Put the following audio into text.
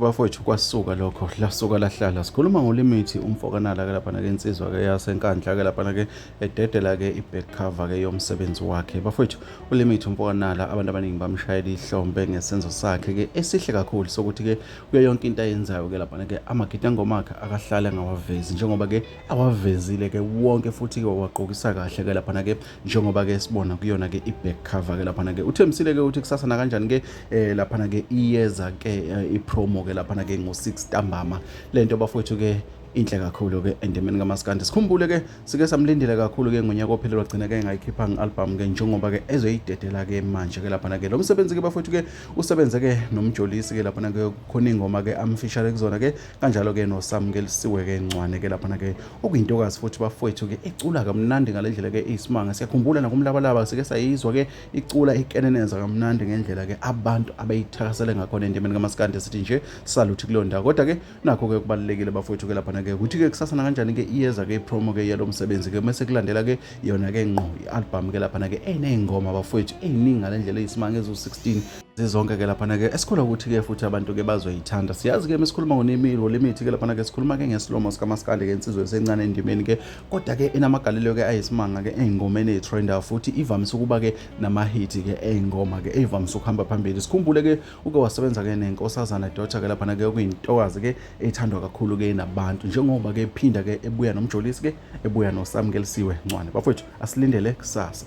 bafowethu kwasuka lokho lasuka lahlala sikhuluma ngolimithi umfokanala ke lapha nake insizwa ke yasenkandla ke lapha nake ededela ke iback cover ke yomsebenzi wakhe bafowethu ulimithi umfokanala abantu abaningi bamshayela ihlombe ngesenzo sakhe ke esihle kakhulu sokuthi ke kuyo yonke into ayenzayo ke lapha nake amagidi angomakhe akahlale ngawavezi njengoba ke awavezile ke wonke futhi ke waqokisa kahle ke lapha nake njengoba ke sibona kuyona ke i-back cover ke laphana ke uthembisile ke ukuthi kusasa nakanjani ke eh laphana ke iyeza ke eh, i-promo ke laphana ke ngo-6 ntambama le nto bafowethu ke inhle kakhulu ke endemeni kamaskandi sikhumbule ke sike samlindile kakhulu ke ngonyaka ophelelwa gcina ke ngayikhiphanga i-album ke njengoba ke ezoyidedela ke manje ke laphana ke lo msebenzi ke bafowethu ke usebenze ke nomjolisi ke laphana ke khona ingoma ke amfishale kuzona ke kanjalo-ke nosamukelisiwe-ke ncwane-ke laphana-ke okuyintokazi futhi bafowethu-ke icula kamnandi ngale ndlela-ke iyisimanga siyakhumbula nakumlabalaba sike sayizwa-ke icula ikeneneza kamnandi ngendlela-ke abantu abayithakasele ngakhona endimeni kamasikandi sithi nje saluthi kuleyo ndawo kodwa-ke nakho-ke kubalulekile bafowethu-ke laphana-ke ukuthi-ke kusasa nakanjani-ke iyeza-ke ipromo-ke yalo msebenzi-ke mese kulandela-ke yona-ke ngqo i-albhamu-ke laphana-ke eney'ngoma bafowethu ey'ningi ngale ndlela eyisimanga eziwu-16 zizonke ke laphana ke esikhula ukuthi ke futhi abantu ke bazoyithanda siyazi ke mesikhuluma ngonemilo lemithi ke laphana ke sikhuluma ke ngesilomo sikamaskandi ke insizwe esencane endimeni ke kodwa ke enamagalelo ke ayisimanga ke ey'ngomeni eyi-trender futhi ivamise ukuba ke namahithi ke ey'ngoma ke eyivamise ukuhamba phambili sikhumbule ke uke wasebenza ke nenkosazana dota ke laphana ke okuyintokazi ke eyithandwa kakhulu ke nabantu njengoba ke phinda ke ebuya nomjolisi ke ebuya nosamkelisiwe ncwane bafowethu asilindele kusasa